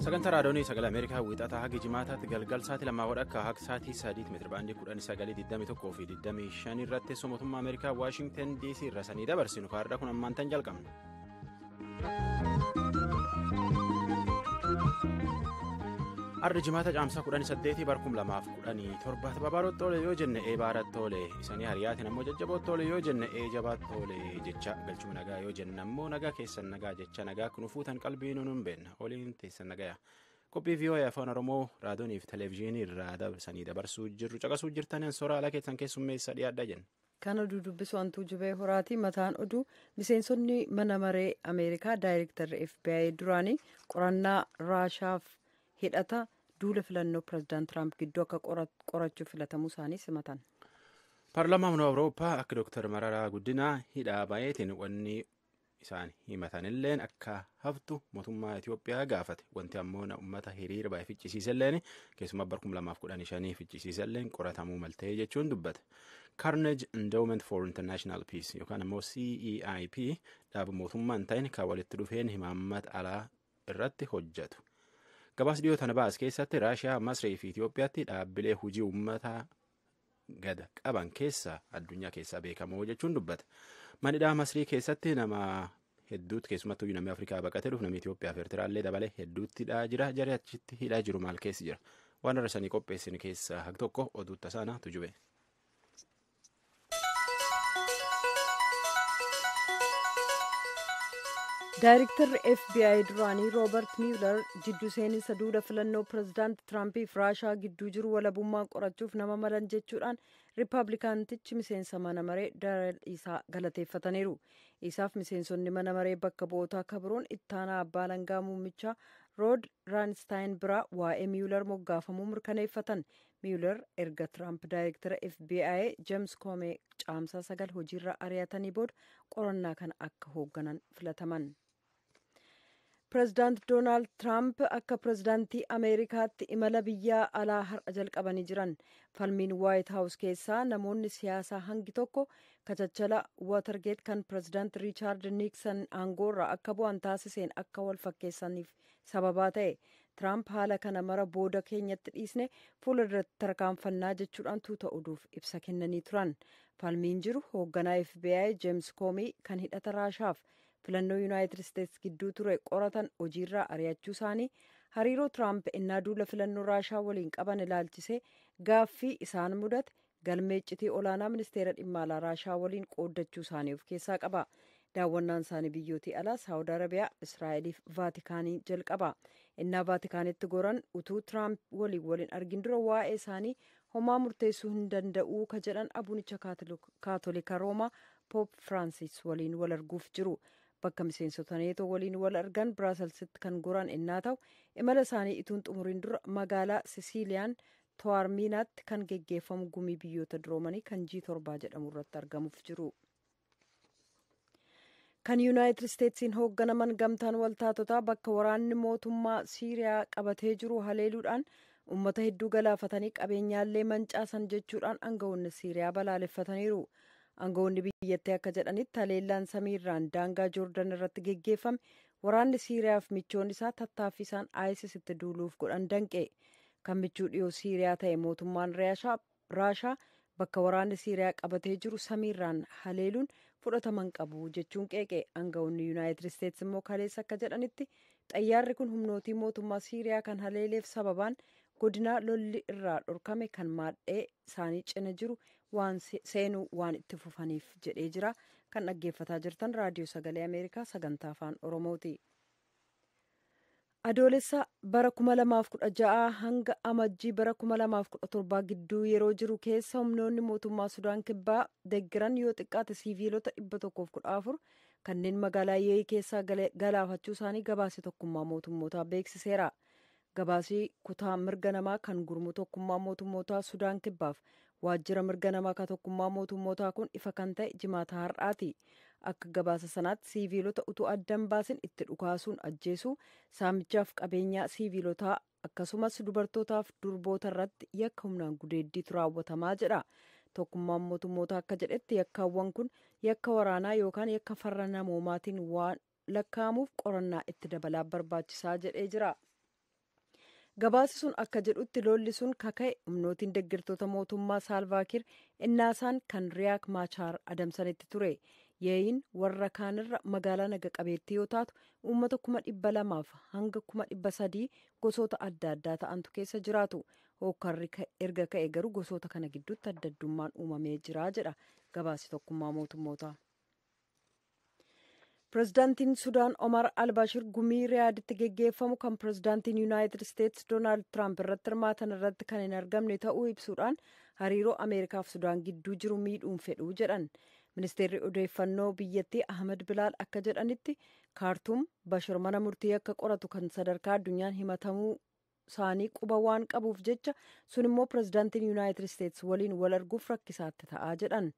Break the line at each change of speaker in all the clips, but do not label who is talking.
sagantaa raadiyoonii sagalee ameerikaa wiixataa haga jimaataatti galgal sa'aatii lamaa wadhakka haga sa'aatii sadiitti meetira baandii kudhan sagalee 21 fi 25 irratti teessoo mootummaa ameerikaa waashingtan dc irra sanii dabarsinu kaardhaa kun ammaan tan jalqabna. arda jimaata caamsaa 18 bar 2017 tababaaroo toole yoo jenne ee baara toole isanii hariyaatiin ammoo jajjaboo toole yoo jenne ee jabaa toole jecha galchuma nagaa yoo jenne ammoo nagaa keessan nagaa jecha nagaa kun fuutan qalbii nuun hin beekna oliin teessan nagaya qophii vii'oo'ee afaan oromoo raadiyoonii fi televezyiinii irraa dabarsanii dabarsuu jirru caqasuu jirtan soraa ala keessan keessummeessa dhiyaadha jenna. Kan oduu dubbisu
hantuu jubee horaatii mataan oduu miseensonni mana maree Ameerikaa daayirektarri FBI duraanii qorannaa Raashaaf hidhata duula filannoo pirezidaant Tiraamp gidduu akka qorachuuf filatamuu isaanii simatan. Paarlaamaan
Awurooppaa akka Dooktar Mararaa Guddinaa hidhaa baay'eetiin wanni isaan himatanilleen akka haftu mootummaa Itoophiyaa gaafate wanti ammoo na ummata hiriira baay'ee ficcisiiselleen keessumaa bara 2015 ficcisiiselleen qoratamuu maltee jechuun dubbate. Carnage Endowment for International Peace yookaan ammoo CEIP dhaaba mootummaa hin ta'in kan walitti dhufeen himaammata alaa irratti hojjetu. Gabaas dhiyoo tana baas keessatti Raashiyaa, Masrii fi Itoophiyaatti dhaabbilee hojii uummataa gada qaban keessaa addunyaa keessaa beekamoo jechuun dubbata. Manidhaa Masrii keessatti nama hedduutti keessumattuu namni Afrikaa baqatee dhufu namni Itoophiyaa fi Eertiraallee dabalee hedduutti hidhaa jira. Jarri achitti hidhaa jiru maal keessa jira? Waan irra sanii qopheessin keessaa hag tokko oduu tasaanaa tujube.
Daayiriktarri FBI duraanii Roobert Mueller jiddu seeninsa duula filannoo pirezidaant Tiraampiif Raashaa gidduu jiru walabummaan qorachuuf nama malan jechuudhaan Riippaabilikaantichi miseensa mana maree Dareel Isaa galateeffataniiru. Isaaf miseensonni mana maree bakka bu'ootaa akka biroon ittaanaa abbaa alangaa muummichaa Rood Raanistaayin biraa waa'ee Miyular moggaafamuu mirkaneeffatan. Miyular erga Tiraamp daayirektara FBI Jeems Koomee caamsaa sagal hojiirraa ari'atanii booda qorannaa kana akka hoogganan filataman. Pireezidaant Doonaald Tiraamp akka pireezidaantii Ameerikaatti imala biyya alaa har'a jalqabanii jiran. Falmiin Waayit Haawus keessaa namoonni siyaasaa hangi tokko kachachala Waatargeet kan pireezidaant Riichaard Niiksan aangoo irraa akka bu'an taasiseen akka wal fakkeessaniif sababaa ta'e. Tiraamp haala kana mara booda keenyatti dhiisne fuula duratti tarkaanfannaa jechuudhaan tuuta oduuf ibsa kennanii turan. Falmiin jiru hoogganaa FBI Jeems Koomii kan hidhata Raashaaf filannoo yuunaayitid isteetsi gidduu ture qoratan hojiirraa ari'achuu isaanii hariiroo tiraamp innaa duula filannoo raashaa waliin qaban ilaalchisee gaaffii isaan mudate galmee iccitii olaanaa ministeera dhimma alaa raashaa waliin qooddachuu isaanii of keessaa qaba daawwannaan isaanii biyyootii alaa saawud arabiyaa israa'eliif vaatikaanii jalqaba innaa vaatikaanitti goran utuu tiraamp waliin waliin argin dura waa'ee isaanii homaa murteessuu hin danda'uu ka jedhan abunicha kaatolika roomaa Poop Firaansis waliin wal arguuf jiru. Bakka miseensota neetoo waliin wal argan Biraaselsitti kan goran ennaa ta'u imala isaanii ituun xumuriin dura magaalaa Sisiiliyaan Towaarmiinaatti kan geggeeffamu gumii biyyoota duroomanii kan jii torbaa jedhamu irratti argamuuf jiru. Kan Yuunaayitid Isteetsiin hoogganaman gamtaan waltaatotaa bakka waraanni mootummaa Siiriyaa qabatee jiru haleeluudhaan uummata hedduu galaafatanii qabeenyaallee mancaasan jechuudhaan aangawoonni Siiriyaa balaaleffataniiru. Angawoonni biyyattii akka jedhanitti haleellaan samiirraan daangaa Joordan irratti geggeeffame waraanni Siiriyaaf michoon isaa tattaaffii isaan ISIS itti duuluuf godhan danqe. Kan michuu dhiyoo Siiriyaa ta'e mootummaan Raashaa bakka waraanni Siiriyaa qabatee jiru samiirraan haleeluun fudhatama hin qabu jechuun qeeqe. Angawoonni Yuunaayitid Isteetsi immoo kaleessa akka jedhanitti xayyaarri kun humnootii mootummaa Siiriyaa kan haleeleef sababaan godinaa lolli irraa dhorkame kan maadhee isaanii cina jiru waan seenuu waan itti fufaniif jedhee jira kan dhaggeeffataa jirtan raadiyoo sagalee ameerikaa sagantaa afaan oromooti. adoolessa bara 2016 hanga amajjii bara 2017 gidduu yeroo jiru keessa humnoonni mootummaa sudaan kibbaa deggiran yoo xiqqaate siiviilota 114 kanneen magaalaa yeeyi keessaa galaafachuu isaanii gabaase tokkummaa mootummootaa beeksiseera Gabaasii kutaa mirga namaa kan gurmuu tokkummaa mootummootaa Sudaan kibbaaf waajjira mirga namaa ka tokkummaa mootummootaa kun ifa kan ta'e jimaata har'aati. Akka gabaasa sanaatti siiviilota utuu addan baasin itti dhukaasuun ajjeesuu, saamichaaf qabeenyaa siiviilotaa akkasumas dubartootaaf durboota irratti yakka humnaan gudeeddiitu raawwatamaa jedha. Tokkummaan mootummootaa akka jedhetti yakkaawwan kun yakka waraanaa yookaan yakka farra namoomaatiin waan lakkaa'amuuf qorannaa itti dabalaa barbaachisaa jedhee jira. Gabaasi sun akka jedhutti lolli sun kaka'e humnootiin deeggartoota mootummaa Saalvaakiir innaasaan kan Riyaak Maachaar adamsanitti ture. Yeeyin warra kaanirra magaalaa naga qabeettii yoo taatu uummata kuma dhibba lamaaf hanga kuma dhibba sadii gosoota adda addaa ta'antu keessa jiraatu. Hookkarri erga ka'e garuu gosoota kana gidduutti adda addummaan uumamee jira jedha gabaasi tokkummaa mootummootaa. Pirezidaantiin Sudaan Omar Albashir gumii Riyaaditti geggeeffamu kan pirezidaantiin Yuunaayitid Isteetsi Doonaald Tiraamp irratti hirmaatan irratti kan hin argamne ta'uu ibsuudhaan hariiroo Ameerikaaf Sudaan gidduu jiru miidhuun fedhuu jedhan. Ministeerri odeeffannoo biyyattii Ahmed Bilaal akka jedhanitti Kaartuum Bashir mana murtii akka qoratu kan sadarkaa addunyaan himatamuu isaanii quba waan qabuuf jecha sun immoo pirezidaantiin yuunaayitid isteets waliin wal arguuf rakkisaatti ta'aa jedhan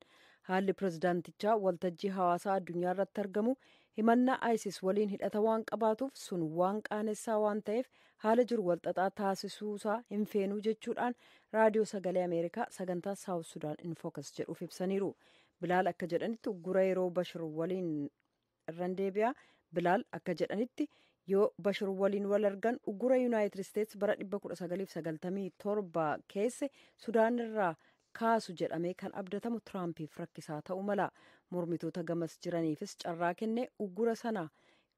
haalli pirezidaantichaa waltajjii hawaasaa addunyaa irratti argamu himannaa ayisis waliin hidhata waan qabaatuuf sun waan qaanessaa waan ta'eef haala jiru walxaxaa taasisuusaa hin feenuu jechuudhaan raadiyoo sagalee ameerikaa sagantaa saawus sudaan infokas jedhuuf ibsaniiru bilaal akka jedhanitti uggura yeroo bashir waliin irran deebi'aa bilaal akka jedhanitti yoo bashir waliin wal argan uggura yuunaayitid isteets bara 1997 keesse sudaan irraa kaasu jedhamee kan abdatamu tiraampiif rakkisaa ta'uu mala mormitoota gamas jiraniifis carraa kenne uggura sana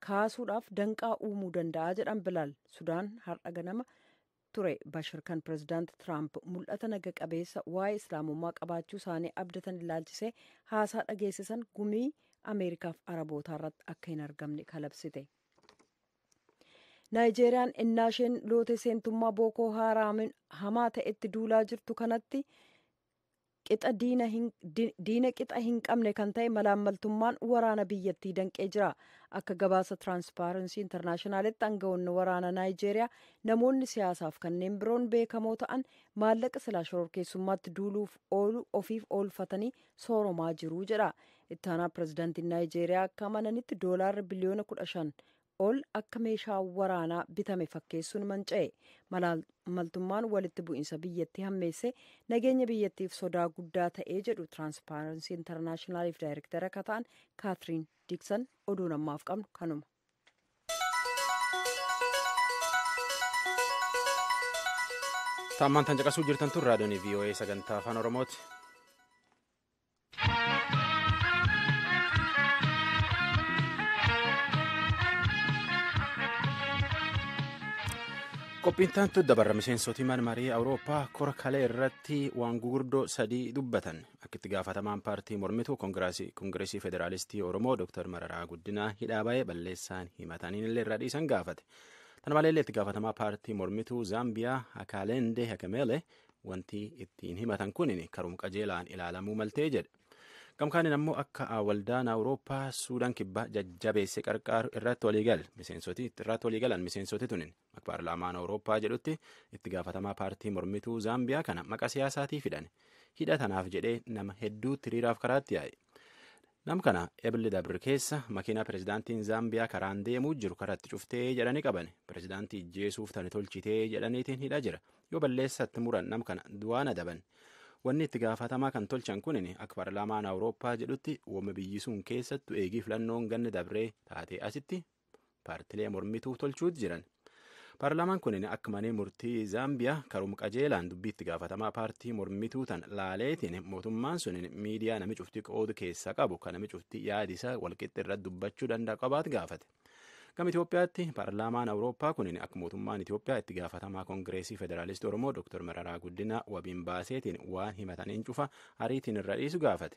kaasuudhaaf danqaa uumuu danda'a jedhan bilaal sudaan har'a ganama ture Bashir kan pirezidaanti Tiraamp mul'ata naga qabeessa waa'ee islaamummaa qabaachuu isaanii abdatan ilaalchisee haasaa dhageessisan gumii Ameerikaaf Arabootaa irratti akka hin argamne kalabsite. Naayijeeriyaan ennaa isheen loote seentummaa Bookoo Haaraamiin hamaa ta'etti duulaa jirtu kanatti qixa diina hin di- diina qixa hin qabne kan ta'e malaammaltummaan waraana biyyattii danqee jira akka gabaasa tiraanspaaransii intarnaashinaalitti aangawoonni waraana naayijeeriyaa namoonni siyaasaaf kanneen biroon beekamoo ta'an maallaqa silaa shororkeessummaatti duuluuf oolu ofiif oolfatanii sooromaa jiru jedha ittaanaa pirezidaantiin naayijeeriyaa akka amananitti doolaarri biliyoona kudha shan ol akka meeshaa waraanaa bitame fakkeessuun manca'e maltummaan walitti bu'iinsa biyyattii hammeessee nageenya biyyattiif sodaa guddaa ta'ee jedhu tiraanspaaransii intarnaashinaaliif daayirektara akka ta'an kaatiriin diiksan oduun ammaaf qabnu kanuma.
Taammaan tan caqasuu jirtan tun raadiyoon VOA sagantaa afaan Oromooti. Qophiin taantu dabarra miseensoti mana marii Awurooppaa kora kalee irratti waan gurguddoo sadii dubbatan akka itti gaafatamaan paartii mormituu Kongireesii Federaalistii Oromoo Dr. Mararaa Guddinaa hidhaa ba'ee balleessaan himataniin illee irraa dhiisan gaafate. Tana malee illee itti gaafatamaa paartii mormituu Zaambiyaa Akaalendee Hakemeelee wanti ittiin himatan kun karum qajeelaan ilaalamuu maltee jedha. Gamkaaniin ammoo akka waldaan Awurooppaa Suudaan kibbaa jajjabeesse qarqaaru irratti waliigal miseensoti irratti waliigalan miseensoti tunin akka paarlaamaan Awurooppaa jedhutti itti gaafatamaa paartii mormituu Zaambiyaa kana maqa siyaasaatii fidan hidha tanaaf jedhee nama hedduutti hiriiraaf karaatti yaa'e. Nam kana Ebli Dabr keessa makiinaa pirezidaantiin Zaambiyaa karaan deemuu jiru karatti cuftee jedhanii qaban. Pirezidaantii ijjeesuuf tani tolchitee jedhaniitiin hidhaa jira. Yoo balleessatti muran nam kana du'aan adaban. Wanni itti gaafatamaa kan tolchan kunin akka paarlaamaan Awurooppaa jedhutti woma biyyi sun keessattu eegii filannoon ganna dabree taatee asitti paartilee mormituu tolchuutti jiran. Paarlaamaan kun akka manee murtii Zaambiyaa karuma qajeelaan dubbii itti gaafatamaa paartii mormituu tan laaleetiin mootummaan sun miidiyaa nami cuftii qoodu keessaa qabu kan nami cuftii yaadi isaa walqixxi irratti dubbachuu danda'a qabaatu gaafate. Gama Itoophiyaatti paarlaamaan Awurooppaa kun akka mootummaan Itoophiyaa itti gaafatamaa Kongireesii Federaalistii Oromoo Dr. Mararaa Guddinaa wabiin baaseetiin waan himataniin cufa ariitiin irra dhiisu gaafate.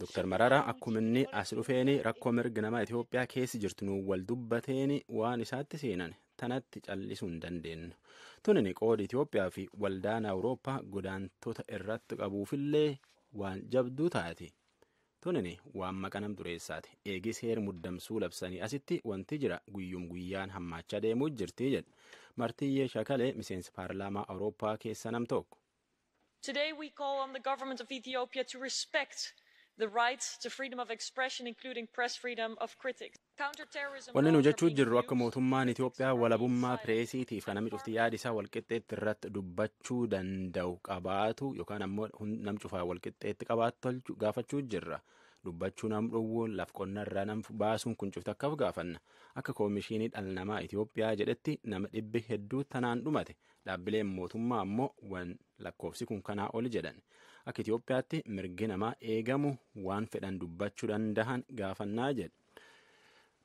Dr. Mararaa
akkuma inni as dhufeen rakkoo mirga namaa Itoophiyaa keessa jirtu nu wal dubbateen waan isaatti seenan tanatti callisuu hin dandeenyu. Tunin qooda Itoophiyaa fi waldaan Awurooppaa godaantota irratti qabuufillee waan jabduu taati. Tunin waan maqa nam dureessaati. Eegi seer muddamsuu labsanii asitti wanti jira guyyum guyyaan hammaachaa deemuu jirti jedha. Martiyyee Shakalee miseensa paarlaamaa Awurooppaa keessa nam tokko. Today
we call on the government of Ethiopia to respect the right to freedom of expression including press freedom of critics. Wanni nu
jechuu jirru akka mootummaan Itoophiyaa walabummaa pireesiitiif kan namni cufti yaada isaa walqixxeetti irratti dubbachuu danda'u qabaatu yookaan ammoo nam cufaa walqixxeetti qabaatu tolchu gaafachuu jirra. Dubbachuu nam dhowwuun laf qonna irraa nam baasuun kun cufti akkaaf gaafanna. Akka koomishinii dhala namaa Itoophiyaa jedhetti nama dhibbi hedduu tanaan dhumate Dhaabbileen mootummaa ammoo waan lakkoofsi kun kanaa oli jedhan akka Itoophiyaatti mirgi namaa eegamu waan fedhan dubbachuu danda'an gaafannaa jedhe.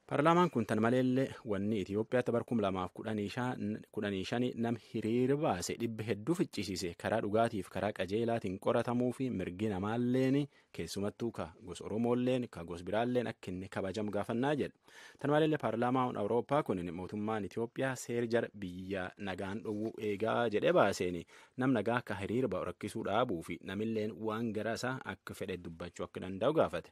Paarlaamaan kun tan maleellee wanni Itoophiyaatti bara 2015 nam hiriira baase dhibba hedduu ficcisiise karaa dhugaatiif karaa qajeelaatiin qoratamuu fi mirgi namaalleen keessumattuu ka gos oromoolleen ka gos biraalleen akka inni kabajamu gaafannaa jedha tan maleellee paarlaamaan awurooppaa kun mootummaan itiyoophiyaa seer jara biyya nagaan dhowwuu eegaa jedhee baaseen nam nagaa akka hiriira ba'u rakkisuu dhaabuu fi namilleen waan gara isaa akka fedhe dubbachuu akka danda'u gaafate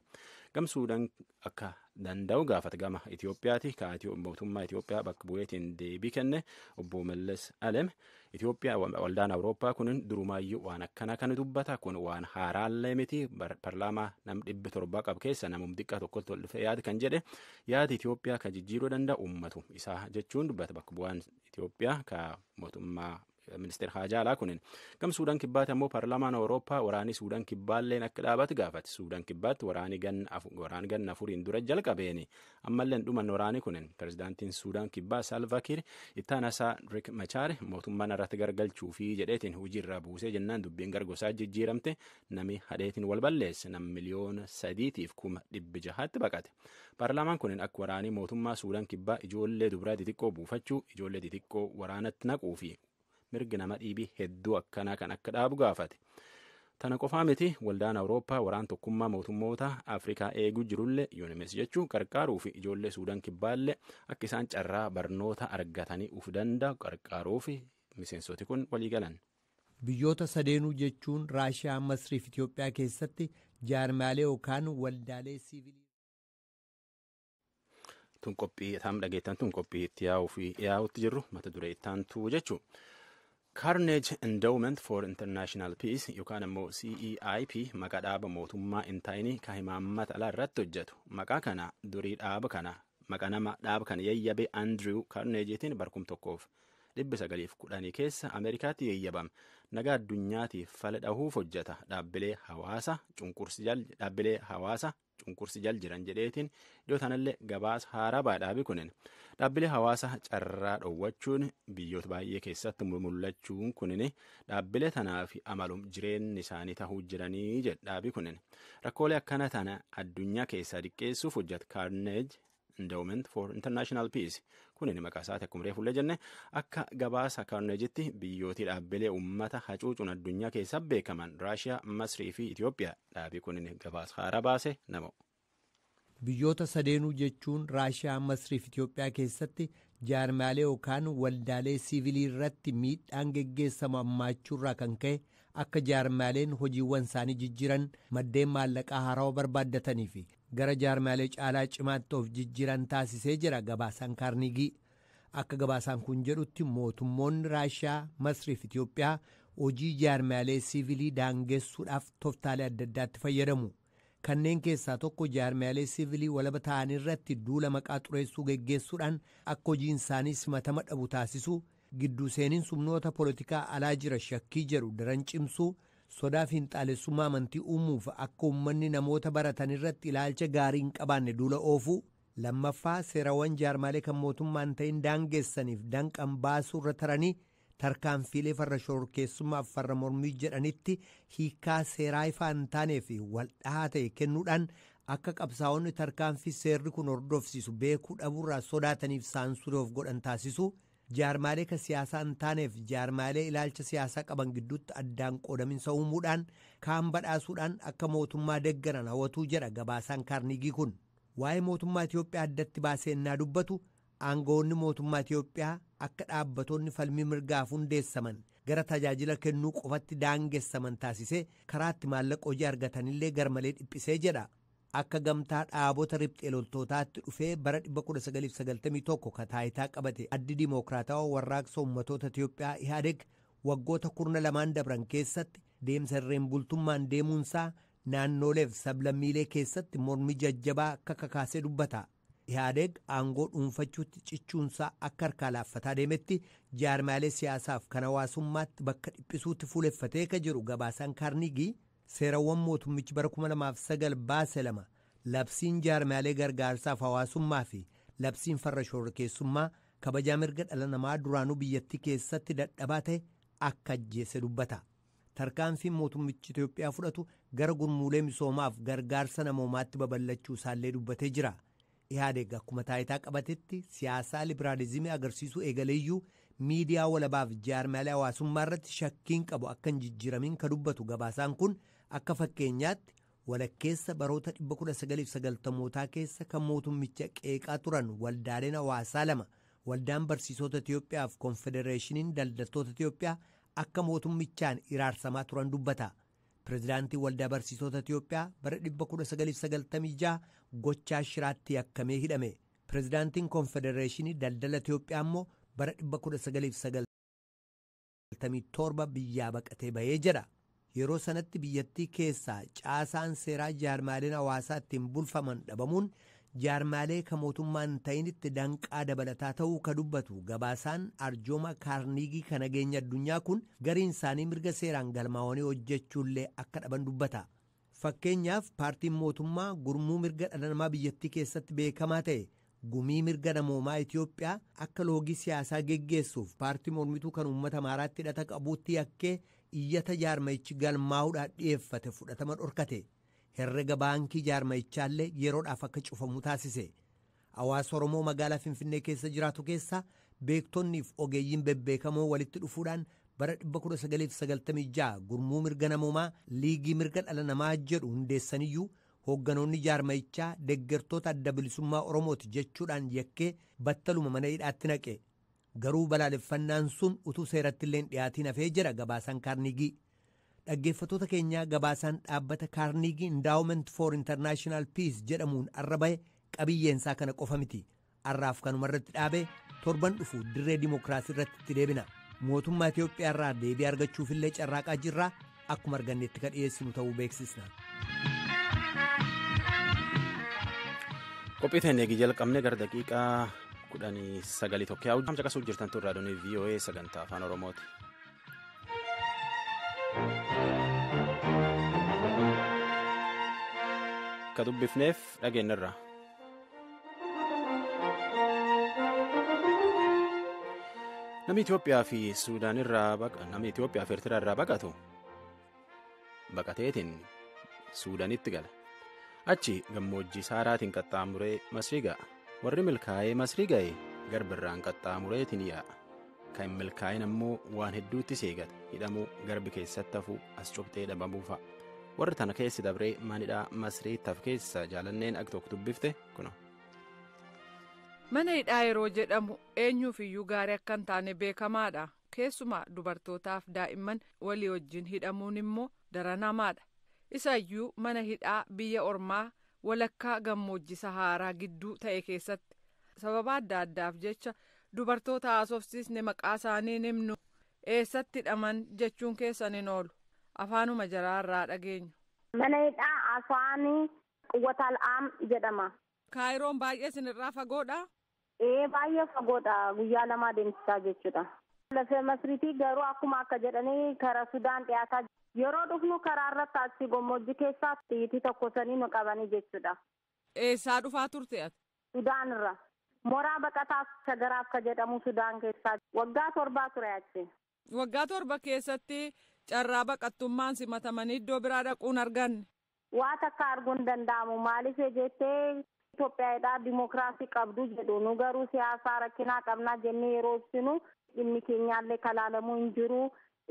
gam suudaan akka danda'u gaafata gama itiyoophiyaati ka mootummaa itiyoophiyaa bakka bu'eetiin deebii kenne obbo mallas alem Itoophiyaa waldaan Awurooppaa kun durumaayyuu waan akkanaa kan dubbata kun waan haaraallee miti parlaamaa nam dhibbi torbaa qabu keessa namum xiqqaa tokkotti ol dhufee yaad kan jedhe yaadi Itoophiyaa kan jijjiiruu danda'u ummatu isaa jechuun dubbata bakka bu'aan Itoophiyaa ka mootummaa ministeer haajaalaa kunin gam suudaan kibbaatti ammoo parlaamaan awurooppaa waraanii suudaan kibbaalleen akka dhaabatu gaafate suudaan kibbaatti waraanii ganna afuriin dura jalqabeeni ammallee hin dhumanne waraanii kunin pirezidaantiin suudaan kibbaa saalvakiir ittaanasaa rik machaar mootummaan irratti gargalchuu fi jedheetiin hojii irraa buusee jennaan dubbiin gargosaa jijjiiramte nami hadheetiin wal balleesse nam miliyoona sadiitiif kuma dhibbi jahaatti baqate paarlaamaan kunin akka waraanii mootummaa suudaan kibbaa ijoollee dubraa xixiqqoo buufachuu ijoollee xixiqqoo waraanatti naquu fi mirgi nama dhiibii hedduu akkanaa kan akka dhaabu gaafate. Tana qofaa miti waldaan Awurooppaa waraan tokkummaa mootummoota Afrikaa eeguu jirullee yuunimes jechuun qarqaaruu fi ijoollee Suudaan kibbaallee akka isaan carraa barnoota argatanii uf danda'u qarqaaruu fi miseensoti kun walii galan. Biyyoota
sadeenuu jechuun Raashiyaa, Masrii fi Itoophiyaa keessatti jaarmaalee yookaan waldaalee siivilii.
tun qophii taam dhageettan tun qophii itti yaa'uu fi yaa'utti jirru mata duree ittaantuu jechuu Carnage Endowment for International Peace yookaan ammoo CEIP maqaa dhaaba mootummaa hin taa'inii kan himaammata alaa irratti hojjetu maqaa kana durii dhaaba kana maqaa nama dhaaba kana yayyabe Andrew Carnageetiin barkum tokkoof dhibbi sagaliif kudhanii keessa Ameerikaatti yayyabame nagaa addunyaatiif fala dhahuuf hojjeta dhaabbilee hawaasa cunqursi jal dhaabbilee hawaasa cunqursi jal jiran jedheetiin dhiyoo tanallee gabaasa haaraa ba'a dhaabi kunin dhaabbilee hawaasa carraa dhoowwachuun biyyoota baay'ee keessatti mul'achuun kunin dhaabbilee tanaa fi amalum jireenyi isaanii tahuu jiranii jedha dhaabi kunin rakkoolee akkana tana addunyaa keessaa diqqeessuuf hojjeta kaarneej Endowment for International Peace kunin maqaa isaati akkuma reefullee jenne akka gabaasa kaarneejitti biyyootii dhaabbilee uummata hacuucuun addunyaa keessaa beekaman Raashiyaa, Masrii fi Itoophiyaa dhaabii kunin gabaasa haaraa baase nama. Biyyoota
sadeenuu jechuun Raashiyaa, Masrii fi Itoophiyaa keessatti jaarmaalee yookaan waldaalee siivilii irratti miidhaan geggeessamu hammaachuurraa kan ka'e akka jaarmaaleen hojiiwwan isaanii jijjiiran maddeen maallaqaa haarawaa barbaaddatanii fi gara jaarmiyaalee caalaa cimaatti of jijjiiran taasisee jira gabaasaan kaarniigii akka gabaasaan kun jedhutti mootummoonni raashiyaa masrii fi itiyoophiyaa hojii jaarmiyaalee siivilii daangessuudhaaf toftaalee adda addaatti fayyadamu kanneen keessaa tokko jaarmiyaalee siivilii walaba ta'an irratti duula maqaa xureessuu geggeessuudhaan akka hojiin isaanii simatama dhabu taasisuu Gidduu seeninsi humnoota polotikaa alaa jira shakkii jedhu daran cimsuu, sodaa fiinxaalessummaa amantii uumuuf akka uummanni namoota baratan irratti ilaalcha gaarii hin qabaanne duula oofuu, lammaffaa seerawwan jaarmaalee kan mootummaa hin ta'in daangessaniif danqan baasuu irra taranii tarkaanfiilee farra shororkeessummaaf farra mormii jedhanitti hiikaa seeraa ifaa hin taanee fi waldhahaa ta'e kennuudhaan akka qabsaa'onni tarkaanfii seerri kun hordofsiisu beekuu dhabuurraa sodaataniif saansurii of godhan taasisuu, Jaarmaalee kan siyaasaa hin taaneef jaarmaalee ilaalcha siyaasaa qaban gidduutti addaan qoodaminsa uumuudhaan kaan badhaasuudhaan akka mootummaa deggaran hawatuu jedha gabaasaan kaarniigii kun. Waa'ee mootummaa Itiyoophiyaa addatti baasee innaa dubbatu aangawoonni mootummaa Itiyoophiyaa akka dhaabbatoonni falmii mirgaaf hundeessaman gara tajaajila kennuu qofatti daangessaman taasisee karaatti maallaqa hojii argatanillee garmalee dhiphisee jedha. Akka gamtaa dhaabota riphxee loltootaatti dhufee bara 1991 ka taayitaa qabate Addi Dimookiraatawa Warraaqsa Ummatoota Itiyoophiyaa Ihaadeg waggoota kurna lamaan dabran keessatti deemsa irreen bultummaan deemuunsaa naannooleef sablammiilee keessatti mormi jajjabaa akka kakaasee dubbata. Ihaadeg aangoo dhuunfachuutti cichuunsaa akka harkaa laaffataa deemetti jaarmaalee siyaasaaf kan hawaasummaatti bakka dhiphisuutti fuuleffatee ka jiru gabaasaan Kaarniigii Seerawwan mootummichi bara 2009 baase lama labsiin jaarmiyaalee gargaarsaaf hawaasummaa fi labsiin farra shororkeessummaa kabajaa mirga dhala namaa duraanuu biyyattii keessatti dadhabaa ta'e akka ajjeese dubbata. Tarkaanfiin mootummichi Itoophiyaa fudhatu gara gurmuulee misoomaaf gargaarsa namoomaatti babal'achuu isaallee dubbatee jira. Ihaadeg akkuma taayitaa qabatetti siyaasaa libiraalizimii agarsiisuu eegaleeyyuu miidiyaa walabaaf jaarmaalee hawaasummaa irratti shakkiin qabu akka hin jijjiiramin ka dubbatu gabaasaan kun akka fakkeenyaatti walakkeessa baroota 1990mootaa keessa kan mootummicha qeeqaa turan waldaaleen hawaasaa lama waldaan barsiisota Itiyoophiyaa fi konfedereeshiniin daldaltoota Itiyoophiyaa akka mootummichaan iraarsamaa turan dubbata. Pireezidaantiin Waldaa Barsiisota Itiyoophiyaa bara 1996 gochaa shiraatti yakkamee hidhame. Pireezidaantiin Konfedereeshinii Daldala Itiyoophiyaa immoo bara 1997 biyyaa baqatee bahee jedha. Yeroo sanatti biyyattii keessaa caasaan seeraa jaarmaaleen hawaasaa ittiin bulfaman dhabamuun Jaarmaalee ka mootummaa hin ta'initti danqaa dabalataa ta'uu ka dubbatu gabaasaan arjooma kaarniigii ka nageenya addunyaa kun gariin isaanii mirga seeraan galmaawanii hojjechuullee akka dhaban dubbata. Fakkeenyaaf paartiin mootummaa gurmuu mirga dhala namaa biyyattii keessatti beekamaa ta'e gumii mirga namoomaa Itoophiyaa akka loogii siyaasaa geggeessuuf paartii mormituu kan uummata Amaaraatti hidhata qabuutti yakkee iyyata jaarmayichi galmaa'uudhaan dhiyeeffate fudhatama dhorkate. Herrega baankii jaarmayichaallee yeroodhaaf akka cufamu taasise. Hawaasa Oromoo magaalaa Finfinnee keessa jiraatu keessaa beektonniif ogeeyyiin bebbeekamoo walitti dhufuudhaan bara 1996 gurmuu mirga namoomaa liigii mirga dhala namaa jedhu hundeessaniyyuu hoogganoonni jaarmayichaa deggertoota adda bilisummaa Oromooti jechuudhaan yakkee battaluma mana hidhaatti naqe. Garuu balaaleffannaan sun utuu seeratti illee hin dhiyaatiin hafee jira gabaasaan kaarnigii. Dhaggeeffatoota keenyaa gabaasaan dhaabbata Kaarniigii Indaawument for International Peace jedhamuun arra bahe qabiyyeensaa kana qofa miti. Arraaf kanuma irratti dhaabee torban dhufu dirree dimookiraasii irratti itti deebina. Mootummaa Itoophiyaa irraa deebii argachuufillee carraaqaa jirra. Akkuma argannetti ka dhiyeessinu ta'uu beeksisna.
Qophii ta'een eegi jalqabne gara daqiiqaa kudhanii sagalii tokko yaa'u. Caqasuu jirtan turraa doonii VOA sagantaa afaan Oromooti. akka dubbifneef dhageenyarra. Namni Itoophiyaa fi Suudaan irraa namni Itoophiyaa fi Eertiraa irraa baqatu baqateetiin suudanitti gala achi gammoojjii saaraatiin qaxxaamuree masrii ga'a warri milkaa'ee masrii ga'e garbirraan qaxxaamureetiin yaa'a kan milkaa'in ammoo waan hedduutti seegata hidhamuu garbi keessatti hafuu as cubtee dhabamuu fa'a warri tana keessi dabree manidhaa masrii taf keessa jaalanneen ak tokko dubbifte kuna.
mana hidhaa yeroo jedhamu eenyuuf iyyuu gaarii akka hin taane beekamaadha Keessumaa dubartootaaf daa'imman walii wajjin hidhamuun immoo daran hamaadha. Isa iyyuu mana hidhaa biyya ormaa walakkaa gammoojji Sahaaraa gidduu ta'e keessatti. Sababa adda addaaf jecha dubartoota haasofsiisne maqaa isaanii hin himnu. Eessatti hidhaman jechuun keessan hin oolu. Afaanuma jaraa irraa dhageenyu. Mana hidhaa
Asaani Quwwataal Aam jedhama. Kaayiroon baay'ee
isinirraa fagoodha? Ee baay'ee
fagoodha guyyaa lamaa deemsisaa jechuudha. Lafee Masriitii garuu akkuma akka jedhanii kara Sudaan dhiyaataa yeroo dhufnu karaa irratti asii gommoojji keessaa xiyyitii tokko sanii nu qabanii jechuudha. Eessaa dhufaa
turte ati? Sudaan irra.
Moraa baqataa Shagaraaf ka jedhamu Sudaan keessaa waggaa torbaa ture achi. Waggaa torba
keessatti carraa baqattummaan simatamanii iddoo biraa dhaquu hin arganne. Waa takka
arguun hin danda'amu. Maaliif yoo jette Itoophiyaadhaa dimookiraasii qabdu jedhu. Nu garuu siyaasaa rakkinaa qabnaa jennee yeroo ibsinu dhimmi keenyaallee ka laalamuu hin jiru.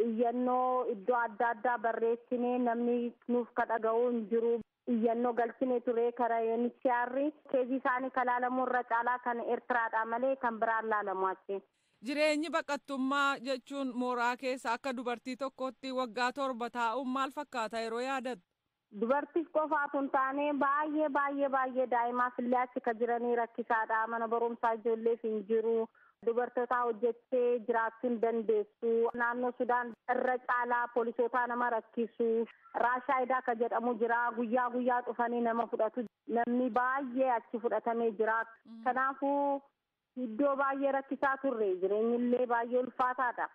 Iyyannoo iddoo adda addaa barreessinee namni nuuf ka dhaga'uu hin jiru. Iyyannoo galchinee ture kara UNHCR keezii isaanii ka laalamuu irra caalaa kan Ertiraadhaa malee kan biraan laalamu achi. Jireenyi
baqattummaa jechuun mooraa keessa akka dubartii tokkootti waggaa torba taa'uun maal fakkaata yeroo yaadattu? Dubartiif
qofaa utuu hin taane baay'ee baay'ee baay'ee daa'imaaf illee achi ka jiranii rakkisaadha mana barumsaa ijoolleef hin jiru Dubartootaa hojjettee jiraachuu hin dandeessu. Naannoo Sudaan irra caalaa polisootaa nama rakkisu. Raashaayidaa ka jedhamu jira. Guyyaa guyyaa dhufanii nama fudhatu. Namni baay'ee achi fudhatamee jira. Kanaafuu iddoo baay'ee rakkisaa turre. Jireenyillee baay'ee ulfaataadha.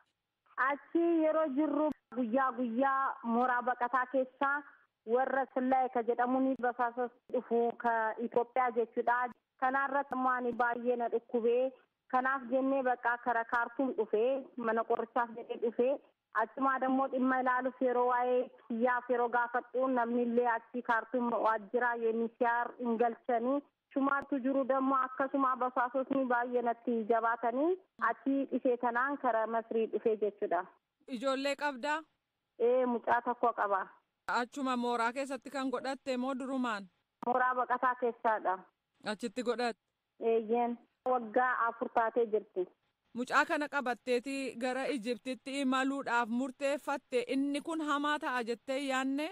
Achi yeroo jirru guyyaa guyyaa mooraa baqataa keessaa warra Sillaye ka jedhamuun basaasa dhufu ka Itoophiyaa jechuudha. Kanaa irratti immoo ani baay'ee na dhukkube. Kanaaf jennee baqaa kara Kaartuum dhufe. Mana qorichaaf jedhee dhufe. Achumaa dammoo dhimma ilaaluuf yeroo waa'ee kiyyaaf yeroo gaafadhu namni illee achii Kaartuum waajjira UNHCR hin galchani. Sumaatu jiru dammo akkasumaa basaasotni baay'ee natti jabaatanii achii dhisee tanaan kara masrii dhufee jechudha. Ijoollee
qabdaa? Ee mucaa
tokko qaba. Achuma mooraa
keessatti kan godhatte moo durumaan? Mooraa baqataa
keessaadha. Achitti godhatte?
Eeyyeen.
Waggaa afur taatee jirti. Mucaa kana
qabatteeti gara Ijiptitti imaluudhaaf murteeffatte inni kun hamaa ta'a jettee hin yaadne?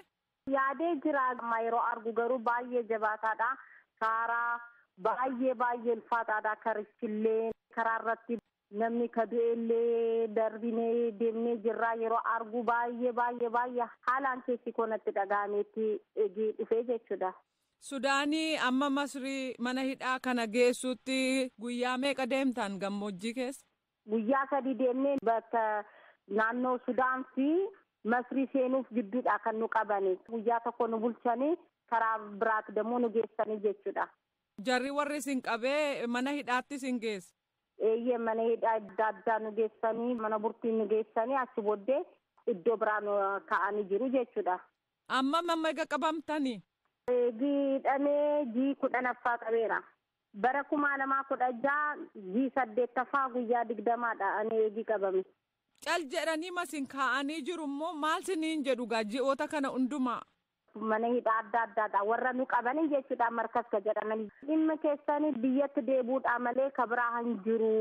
Yaadee jira
amma yeroo argu garuu baay'ee jabaataadha. Kaaraa baay'ee baay'ee ulfaataadha karichillee karaa irratti namni ka du'eellee darbinee deemnee jirraa yeroo argu baay'ee baay'ee baay'ee haalaan keessi koo natti dhaga'ameetti egii dhufee jechuudha. Sudaanii
amma Masrii mana hidhaa kana geessuutti guyyaa meeqa deemtaan gammoojjii keessa? Guyyaa sadii
deemnee bakka naannoo Sudaan fi Masrii seenuuf gidduudhaa kan nu qabani. Guyyaa tokko nu bulchanii karaa biraati demmoo nu geessanii jechuudha. Jarri warri
isin qabee mana hidhaatti isin geesse? Eeyyee mana
hidhaa adda addaa nu geessanii mana burtii nu geessanii achi booddee iddoo biraa nu ka'anii jiru jechuudha. Ammam amma
ega qabamtani? Eegi
hidhamee jii kudhanaffaa qabeera. Bara kumaa lamaa kudha ja'a ji saddeettaffaa guyyaa digdamaadha ani eegi qabame. Cal jedhanii
ma sin kaa'anii jiru immoo maal siniin jedhu gaa ji'oota kana hundumaa? Mana hidhaa
adda addaadha warra nu qabani jechuudha markas ka jedhamani. Dhimma keessani biyyatti deebuudhaa malee ka biraa hin jiru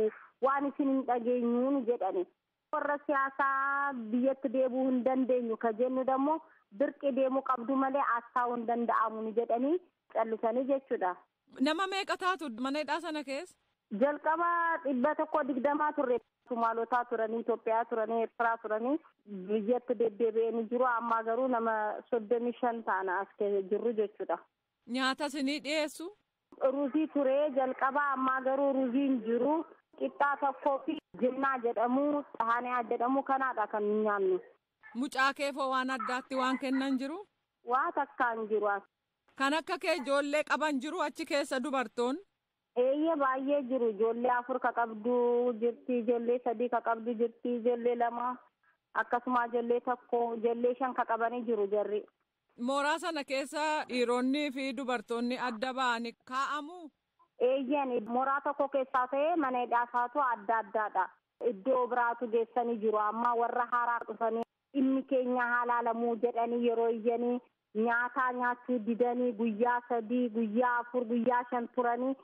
waan isin hin dhageenyu nu jedhani. Warra siyaasaa biyyatti deebuu hin dandeenyu ka jennu dammoo dirqi deemuu qabdu malee as taa'uu hin danda'amu nu jedhanii callisanii jechuudha. Nama meeqa
taatu mana hidhaa sana keessa? Jalqaba
dhibba tokkoo digdamaa turre. Sumaalotaa turanii, Itoophiyaa turanii, Eertiraa turanii biyyatti deddeebi'anii jiru. Ammaa garuu nama soddomii shan taana as jirru jechuudha. Nyaata isinii
dhiyeessu? Ruuzii ture
jalqaba ammaa garuu ruuzii hin jiru. Qixxaa tokkoo fi jinnaa jedhamu, xahaaniyaa jedhamu kanaadha kan nyaannu. Mucaa keefoo
waan addaatti waan kennan jiru? Waa takka hin
jiru. Kan akka kee
ijoollee qaban jiru achi keessa dubartoonni? Eeyyee
baay'ee jiru ijoollee afur ka qabdu jirti ijoollee sadii ka qabdu jirti ijoollee lama akkasumaa ijoollee tokko ijoollee shan ka qabanii jiru jarri. Mooraa sana
keessa dhiironnii fi dubartoonni adda ba'ani kaa'amuu? Eeyyeen
mooraa tokko keessaa ta'ee mana hidhaa isaatu adda addaadha. Iddoo biraatu geessanii jiru amma warra haaraa dhufanii dhimmi keenya haa laalamuu jedhanii yeroo iyyanii nyaataa nyaachuu didanii guyyaa sadii guyyaa afur guyyaa shan turanii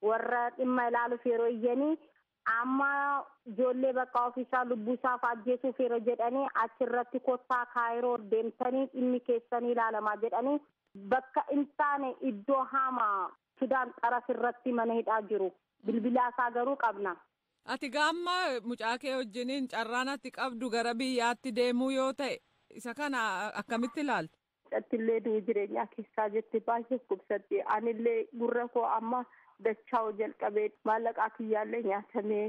warra dhimma ilaaluuf yeroo iyyanii amma ijoollee bakka ofiisaa lubbuusaaf ajjeesuuf yeroo jedhanii achirratti kottaa kaayiroo deemtanii dhimmi keessanii ilaalamaa jedhanii bakka hin taane iddoo hamaa Sudaan xaraf irratti mana hidhaa jiru. Bilbilaa isaa garuu qabna. Ati gaamma
mucaa kee wajjiniin carraan ati qabdu gara biyyaatti deemuu yoo ta'e isa kana akkamitti ilaalta? Attillee du'u
jireenyaa keessaa jirti baay'ee dhukkubsatti. Anillee gurra koo amma dachaa'u jalqabee maallaqaa kiyyaallee nyaatamee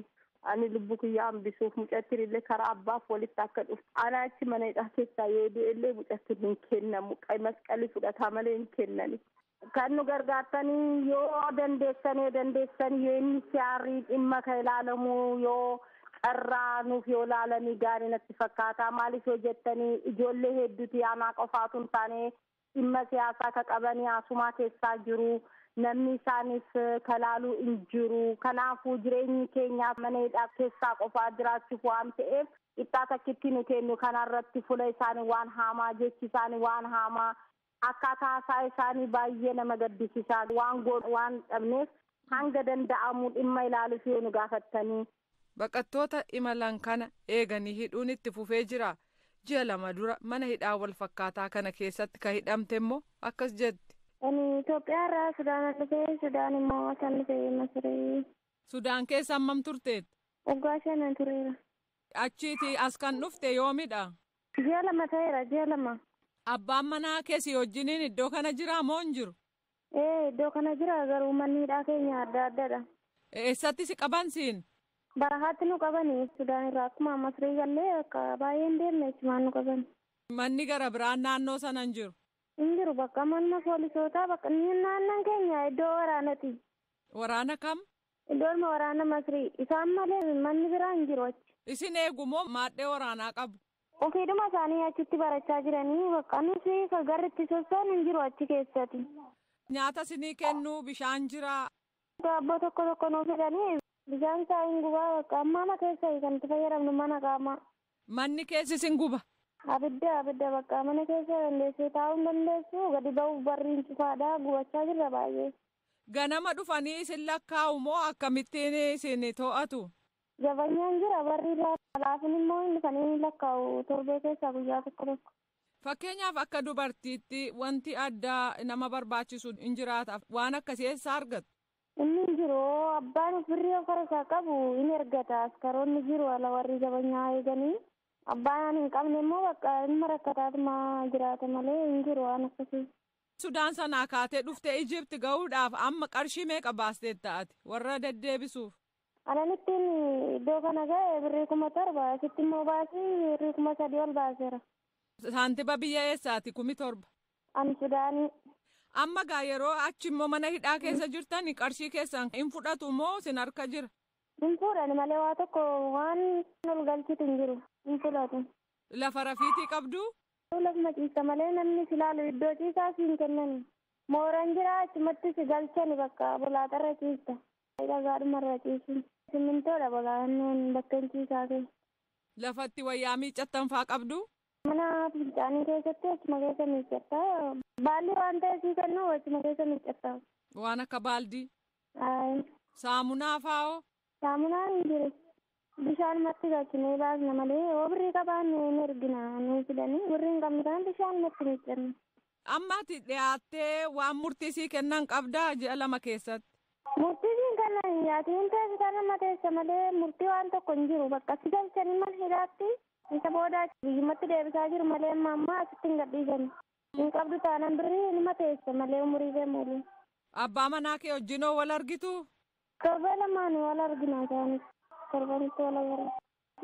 ani lubbu kiyyaa hambisuuf mucattiin illee karaa abbaaf walitti akka dhufu. Ana achi mana hidhaa keessaa yoo du'e illee mucattiin hin kennamu. Qay masqalii fudhataa malee hin kennani. Kan nu gargaartanii yoo dandeessanee dandeessan UNHCR dhimma ka ilaalamu yoo carraa nuuf yoo laalanii gaarii natti fakkaata. Maaliif yoo jettanii ijoollee hedduuti anaa qofaa utuu hin taane dhimma siyaasaa ka qabanii asumaa keessaa jiru. Namni isaaniif ka laalu hin jiru. Kanaafuu jireenyi keenyaaf mana hidhaa keessaa qofaa jiraachuuf waan ta'eef qixxaa takkitti nu kennu kanarratti fula isaanii waan haamaa jechi isaanii waan haamaa Akkaataa haasaa isaanii baay'ee nama gaddisisaa waan goonu waan dhabneef hanga danda'amu dhimma ilaaluuf yoo nu gaafattanii. Baqattoota
imalan kana eeganii hidhuun itti fufee jira. Ji'a lama dura mana hidhaa wal fakkaataa kana keessatti ka hidhamte immoo akkas jetti. Ani Itoophiyaa
irraa Sudaanan dhufe, Sudaan
immoo
asan dhufe Masrii.
Sudaan
keessa hammam
turteetta?
Waggaa shanan tureera. Achiiti
as kan dhufte yoomidha? Ji'a lama
ta'eera ji'a lama. Abbaan manaa
kee si wajjiniin iddoo kana jiraa moo hin jiru? Ee iddoo kana
jira garuu manni hidhaa keenya adda addadha. Eessatti si
qaban siin? Barahaatti nu
qabani Sudaan irraa akkuma Masrii gallee akka baay'een deemne achumaan nu qabani. Manni gara
biraan naannoo sana hin jiru? Hin jiru bakka
manuma poolisootaa bakka naannan keenya iddoo waraanati. Waraana
kam? Doorma waraana
Masrii. Isaan malee manni biraa hin jiru achi. Isin eegu moo
maadhee waraanaa qabu? Ofiidhuma isaanii
achitti barachaa jiranii bakka nuti ka garri itti sossoonu hin jiru achi keessati. Nyaata
isinii kennuu bishaan jiraa? Daabboo tokko
tokko nuu fidanii bishaan isaa hin gubaa bakka amma ama keessa kan itti fayyadamnu mana qaamaa. Manni keessis
hin guba? Abidda abidda
bakka mana keessa dandeessee taa'uu hin dandeessu gadi ba'uuf barriin cufaadha gubachaa jirra baay'ee. Ganama
dhufanii isin lakkaa'u moo akkamittiin isin to'atu? Zabanyaan
jira barri irraa halaafin immoo hin dhufanii ni lakkaa'u torbee keessaa guyyaa tokko tokko. Fakkeenyaaf
akka dubartiitti wanti addaa nama barbaachisu hin jiraata waan akkasii eessaa argattu? Inni hin jiru
abbaan of birrii of harkaa qabu in ergata askaroonni jiru ala warri zabanyaa eeganii abbaan ani hin qabne immoo bakka ilma rakkataatuma jiraata malee hin jiru waan akkasii. Sudaan sanaa
kaatee dhuftee Egypt ga'uudhaaf amma qarshii meeqa baasteetta ati warra deddeebisuuf? Anan ittiin
iddoo kana ga'e birrii kuma torba asitti immoo baasii birrii kuma sadii ol baaseera. Saantiba
biyya eessaati kumi torba? An Sudaanii.
Amma gaa
yeroo achi immoo mana hidhaa keessa jirtani qarshii keessan hin fudhatu moo sin harka jira? Hin fuudhani
malee waa tokko waan ol galchitu hin jiru hin fudhatu. Lafa rafiitii
qabduu? Tuu lafuma ciista
malee namni si laalu iddoo ciisaa si hin kennani. Mooran jira achumatti si galchani bakka bolaaxarra ciista. Dhagaadhumarra ciisin. Simmintoodha bolaannoon bakkeen ciisaa kee. Lafa itti
wayyaa miiccattan faa qabdu? Mana
fincaanii keessatti achuma keessa miiccatta. Baalli waan ta'e sii kennu achuma keessa miiccatta. Waan akka
baaldii? Ayi.
Saamunaa
faa'oo? Saamunaan hin
jiru. Bishaanumatti galchinee baasna malee yoo birrii qabaanne hin ergina nuun fidanii birrii hin qabnu taanaan bishaanumatti miiccanna. Amma ati
dhiyaattee waan murtii sii kennan qabdaa ji'a lama keessatti? Murtii siin
kennan hin yaatiin hin teessitaan amma teessa malee murtii waan tokko hin jiru bakka si galchanii mana hidhaatti isa booda biyyumatti deebisaa jiru malee amma ammaa asitti hin gadhiisani. Hin qabdu taanaan birrii hinuma teessa malee umurii kee muuluu. Abbaa manaa
kee wajjinoo wal argituu? Torbee
lamaan wal argina isaanis torbanitti wal agarra.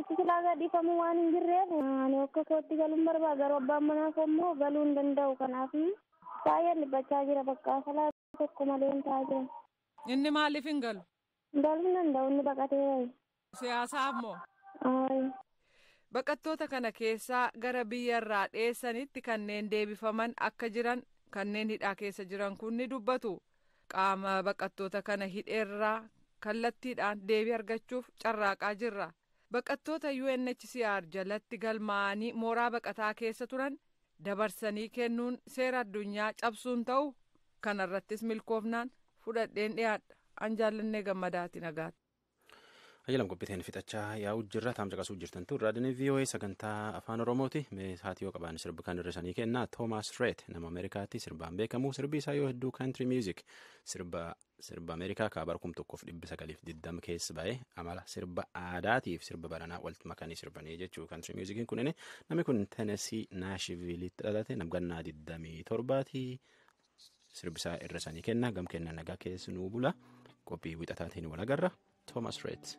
Itti silaa gadhiifamuu waan hin jirreef ani akka kootti galuun barbaada garuu abbaan manaa koo immoo galuu hin danda'u kanaaf baay'een dhiphachaa jira bakka falaa tokko maleen taa'aa jira. Inni maaliif
hin galu? Galuu hin danda'u
inni baqatee bahe. Siyaasaa immoo?
Ayi.
Baqattoota
kana keessaa gara biyya irraa dheessanitti kanneen deebifaman akka jiran kanneen hidhaa keessa jiran kun ni dubbatu. Qaama baqattoota kana hidheerraa kallattiidhaan deebii argachuuf carraaqaa jirra. Baqattoota UNHCR jalatti galmaa'anii mooraa baqataa keessa turan dabarsanii kennuun seera addunyaa cabsuun ta'u kanarrattis milkoofnaan fudhadheen dhiyaadha. An jaallannee gammadaati nagaatti. Ayyalam
qophiiteen fixachaa yaa'u jirra taam caqasuu jirtan tun raadiyoo VOA sagantaa afaan oromooti mee haati yoo qabaan sirbi kan hir'isanii kennaa Toomaas Reet nama Ameerikaatti sirbaan beekamu sirbi isaa yoo hedduu kaantiri miizik sirba sirba Ameerikaa kaabara kum tokkoof dhibbi sagaliif digdama keessa ba'e amala sirba aadaatiif sirba baranaa walitti makanii sirbanii jechuu kaantiri miizikiin kunin namni kun Tenesii Naashiviilitti dhalate namgannaa digdamii torbaatii sirbisaa irra sanii kenna gam kenna nagaa keessa nuu bula qophii wixataatiin wal agarra toomas reet.